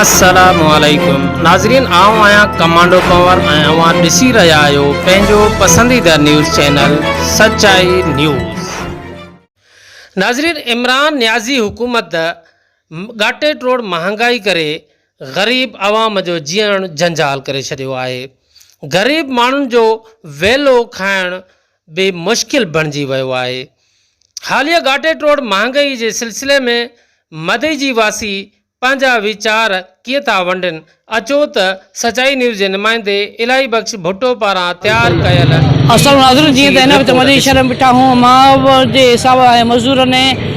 السلام عليڪم ناظرين آئون آهيان ڪمانڊو ڪنور ۽ اوهان ڏسي رهيا آهيو پنهنجو پسنديده نيوز چينل سچائي نيوز. ناظرين عمران نيازي حڪومت ڳاٽي ٽوڙ مهانگائي ڪري غريب عوام جو جيئڻ جنجال ڪري ڇڏيو آهي غريب ماڻهن جو ويلو کائڻ به مشڪل بڻجي ويو آهي. حاليه گاٽيٽ روڊ مهانگئي جي سلسلي ۾ مدئي جي واسي پنهنجا ويچار ڪيئن ٿا ونڊن اچو ته سچائي نيوز جي نمائندي الاهي بخش ڀٽو پاران تيار ڪيل السلام ناظرين جيئن ته هن وقت مدئي شهر ۾ بيٺا آهيون ماهوار جي حساب ۽ مزدورن ۽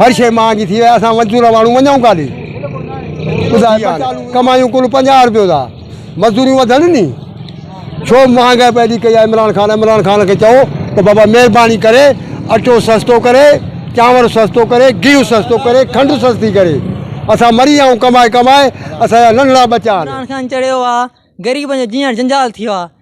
هر شيء مان جي ٿي وئي اسان مزدور ماڻهو وڃون ڪاڏي ٻڌاء ڪمايون ڪل پنجاهه روپيو ٿا مزدوريون وڌن ني ڇو مهانگائي پئي ڏي ڪئي آهي عمران خان عمران خان کي چئو ته بابا مهرباني ڪري اٽو سستو ڪري چانور سستو ڪري گيهو سستو ڪري کنڊ سستي ڪري اسان مري ويا آهيون ڪمائي ڪمائي اسان جا ننڍڙا ٻچا آهن عمران خان چڙيو آهي غريبن جو جيئڻ جنجال ٿيو آهي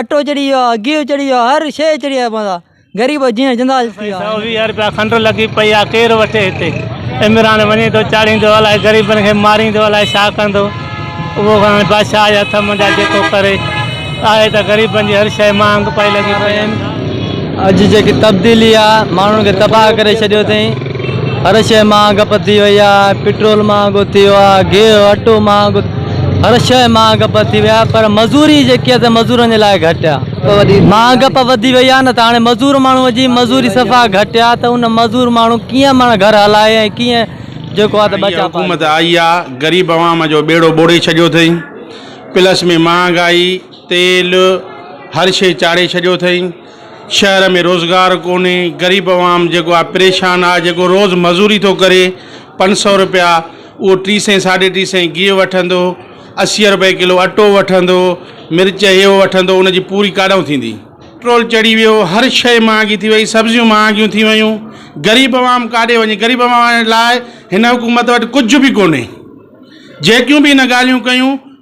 اٽو چڙهي ويو آهي، گيهه چڙهي ويو آهي، هر شيء چڙهي آهي ماندا غريب جيئڻ جندا ٿي ويا آهن. سؤ ويهه رپيا کنڊ لڳي پئي آ ڪير وٺي هتي عمران وڃي ٿو چاڙهيندو الائي غريبن کي ماريندو الائي ڇا ڪندو اهو هاڻي بادشاهه جي هٿ منجهان جيڪو ڪري آهي ته غريبن جي هر شيء مهانگ پئي لڳي پئي آهي. اڄ جيڪي تبديلي آ ماڻهن کي تباهه ڪري ڇڏيو اٿئين. هر شيء مهانگ پتي وئي آ پيٽرول مهانگو ٿيو آ گيهه اٽو مهانگو هر شيء مهانگ پتي وئي آ پر مزوري جيڪي آ سي مزورن جي لاء گهٽ آ مهانگ پ وڌي وئي آ نه ته هاڻي مزور ماڻهو جي مزوري صفا گهٽ آ ته ان مزور ماڻهو ڪيئن ماڻهو گهر هلائي ۽ ڪيئن جيڪو آ ته ٻچا پالي حڪومت آئي آ غريب عوام جو ٻيڙو ٻوڙي ڇڏيو اٿئي پلس ۾ مهانگائي تيل هر شيء چاڙهي ڇڏيو اٿئي شهر ۾ روزگار ڪونهي غريب عوام جيڪو آهي پريشان آهي جيڪو روز مزوري ٿو ڪري پنج سو روپيا اهو ٽي سئين ساڍي ٽي سئين گيهه وٺندو اسي روپئي ڪلو اٽو وٺندو مرچ هي هو وٺندو ان جي پوري ڪاڏانهون ٿيندي پيٽرول چڙهي ويو هر شيء مهانگي ٿي وئي سبزيون مهانگيون ٿي ويون غريب عوام ڪاڏي وڃي غريب عوام لاء هن حڪومت وٽ ڪجهه به ڪونهي جيڪيون به هن ڳالهيون ڪيون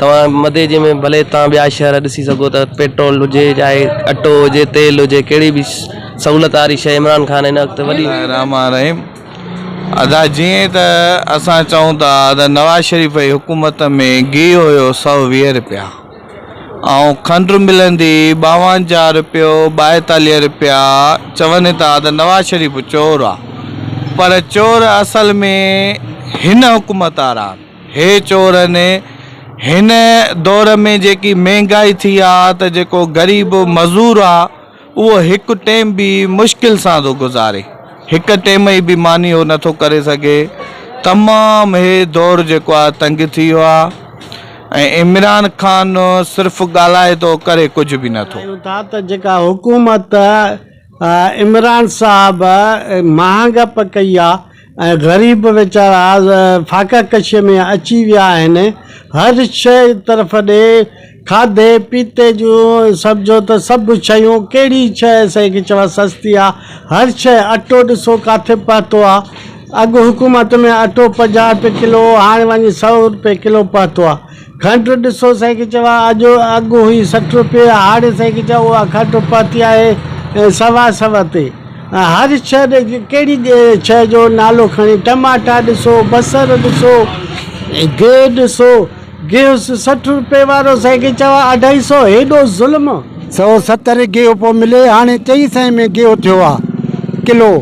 توهان مدي جي ۾ ڀلي توهان ٻيا شهر ڏسي سگهو ته پيٽرول هجي جاء اٽو هجي تيل هجي ڪهڙي به سهولت واري شي عمران خان هن وقت وڏي رحمان الرحيم ادا جئين ته اسان چئون ٿا ته نواز شريف جي حڪومت ۾ گيهه هيو سؤ ويهه رپيا ۽ کنڊ ملندي ٻاونجاهه رپيو ٻائيتاليهه رپيا چون ٿا ته نواز شريف چور آ پر چور اصل ۾ هن حڪومت وارا آن. هي چور ني هن دور ۾ جيڪي مهنگائي ٿي آ ته جيڪو غريب مزور آ اهو هڪ ٽيم به مشڪل سان ٿو گذاري هڪ ٽيم ئي به ماني هو نٿو ڪري سگهي تمام هي دور جيڪو آ تنگ ٿي ويو آ ۽ عمران خان صرف ڳالهائي ٿو ڪري ڪجهه به نٿو. چاهيون ٿا ته جيڪا حڪومت عمران صاحب مهانگ پ ڪئي آ ۽ غريب ويچارا فاقه ڪشي ۾ اچي ويا آهن هر شئي طرف ڏي کاڌي پيتي جون سمجهو ته سڀ شيون ڪهڙي شئ سئي کي چوان سستي آ هر شئ اٽو ڏسو ڪاٿي پهتو آ اڳ حڪومت ۾ اٽو پنجاهه روپي ڪلو هو هاڻي وڃي سئو روپي ڪلو پهتو آ. کنڊ ڏسو سائيڪي چوا آجو اڳ هئي سٺ روپيه هاڻي سائيڪي چوا اها کنڊ پهتي آهي سوا سو تي هر شهر ڏي ڪهڙي شهر جو نالو کڻي ٽماٽا ڏسو بصر ڏسو گيهه ڏسو گيهه سٺ روپيه وارو سائيڪي چوا اڍائي سو هيڏو ظلم سو ستر گيهه پيو ملي هاڻي چئي سئين ۾ گيهه ٿيو آهي ڪلو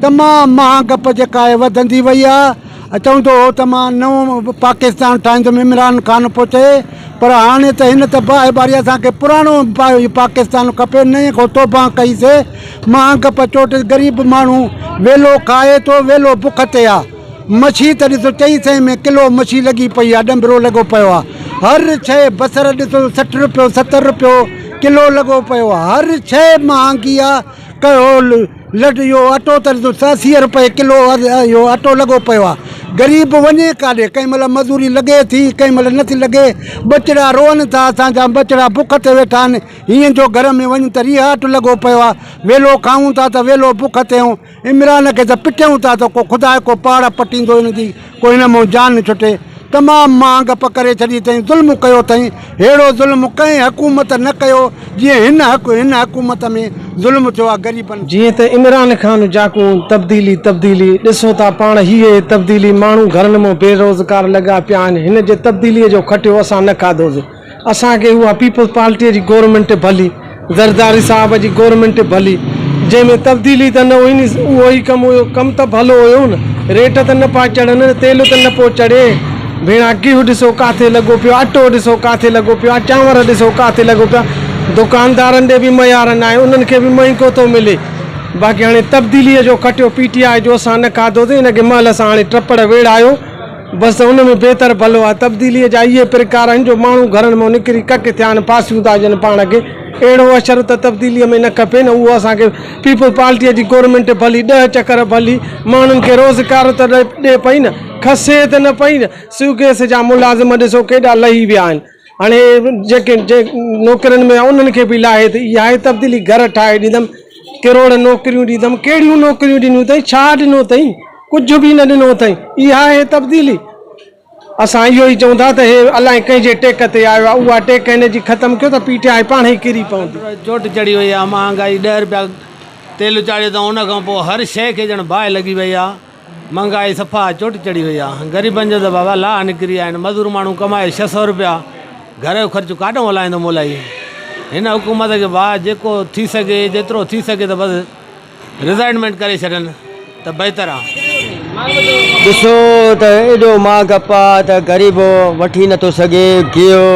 تمام مهانگپ جيڪا آهي وڌندي وئي آهي. چوندو هو ته مان نئون پاڪستان ٺاهيندم عمران خان پوتي پر هاڻي ته هن ته باهه ٻاري اسان کي پراڻو پاڪستان کپي نئين کان توبهان ڪئي سي مهانگ پچوٽ غريب ماڻهو ويلو کائي ٿو ويلو بک تي آ مڇي ته ڏسو چئي سئين ۾ ڪلو مڇي لڳي پئي آ ڏنڀرو لڳو پيو آ هر شئي بصر ڏسو سٺ روپيو ستر روپيو ڪلو لڳو پيو آ هر شئي مهانگي آ ڪهول لٽ اهو اٽو ته ڏسو اسي روپيه ڪلو اهو اٽو لڳو پيو آهي غريب وڃي ڪاڏي ڪنهن مهل مزوري لڳي ٿي ڪنهن مهل نٿي لڳي ٻچڙا روئن ٿا اسان جا ٻچڙا بک تي ويٺا آهن هيئن جو گهر ۾ وڃ ته ريهاٽ لڳو پيو آهي ويلو کائون ٿا ته ويلو بک تي آهيون عمران کي ته پٽيون ٿا ته ڪو خدا جو ڪو پاڙ پٽيندو هن جي ڪو هن مئن جان نه ڇٽي. تمام مان گپ ڪري ڇڏي اٿئين ظلم ڪيو اٿئين ههڙو ظلم ڪنهن حڪومت نه ڪيو جيئن هن حڪ هن حڪومت ۾ ظلم ٿيو آ غريبن جيئن ته عمران خان جاکون تبديلي تبديلي ڏسو ٿا پاڻ هي هي تبديلي ماڻهو گهرن مئن بي روزگار لڳا پيا آهن هن جي تبديلي جو کٽيو اسان نه کاڌوسي. اسان کي اها پيپلز پارٽيء جي گورنمينٽ ڀلي، زرداري صاحب جي گورنمينٽ ڀلي، جنهن ۾ تبديلي ته نه هئي ني اهو ئي ڪم هيو، ڪم ته ڀلو هيو نه، ريٽ ته نه پيا چڙهن نه تيل ته نه پيو چڙهي، ڀيڻا گيهه ڏسو ڪاٿي لڳو پيو آهي، اٽو ڏسو ڪاٿي لڳو پيو آهي، چانور ڏسو ڪاٿي لڳو پيو آهي، دڪاندارن ڏي به معيار ناهي، انهن کي به مهنگو ٿو ملي، باقي هاڻي تبديليء جو کٽيو پي ٽي آء جو اسان نه کاڌوسين، ان کي مهل سان هاڻي ٽپڙ ويڙهايو. بس ته ان ۾ بهتر ڀلو آهي. تبديليء جا اهي پرڪار آهن جو ماڻهو گهرن مان نڪري ڪڪ ٿيا آهن، پاسيون ٿا ڏين پاڻ کي. اهڙو اشر ته تبديليء ۾ نه کپي نه اهو اسان کي. پيپلز پارٽيء جي گورنمينٽ ڀلي ڏهه چڪر ڀلي ماڻهن کي روزگار ته ڏئي پئي نه، کسي ته نه پئي نه. سوگيس جا ملازم ڏسو ڪيڏا لهي ويا آهن. هاڻي جيڪي نوڪرين ۾ انهن کي به لاهي ته اها ئي تبديلي گهر ٺاهي ڏيندم، ڪروڙ نوڪريون ڏيندم، ڪهڙيون نوڪريون ڏنيون اٿئي، ڇا ڏنو اٿئي، ڪجهه به نه ڏنو اٿئي، اها آهي تبديلي. اسان اهو ئي چئون ٿا ته هي الائي ڪنهن جي ٽيڪ تي آيو آهي، اها ٽيڪ هن جي ختم ڪيو ته پي ٽي آء پاڻهي ڪري پوندي. چوٽ چڙهي وئي آهي، مهانگائي ڏهه رپيا تيل چاڙهيو اٿئون، ان کان پوء هر شيء کي ڄڻ باهه لڳي وئي آهي. مھانگائي صفا چوٽي چڙھي وئي آ غريبن جو ته بابا لاھ نڪري آھن مزور ماڻھو ڪمائي ڇھ سئو روپيا گھر جو خرچ ڪاڏھون ھلائيندو مولائي ھن حڪومت کي بھا جيڪو ٿي سگھي جيترو ٿي سگھي ته بس رزائنمينٽ ڪري ڇڏن ته بھتر آ. ڏسو ته ايڏو مھانگ اپا ته غريب وٺي نٿو سگھي گيھو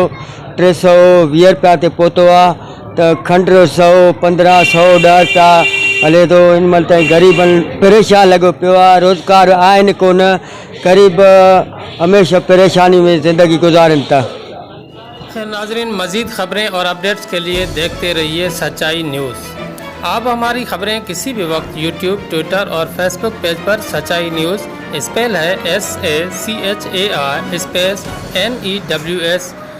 ٽي سئو ويھه روپيا تي پھتو آ ته کنڊ رو سئو، پندرهن سئو ڏهه ٽا هلي ٿو. هن مهل تائين غريب پريشان لڳو پيو آهي. روزگار آهن ڪو نه. غريب هميشه پريشاني ۾ زندگي گذارين ٿا. خير ناظرين مزيد خبرين اور اپڊيٽس کے لئے ديکھتے رھيئي سچائي نيوز آپ ھماري خبرين ڪسي بھي وقت يوٽيوب ٽوئيٽر اور فيس بڪ پيج پر سچائي نيوز اسپيل ھي S A C H A I space N E W S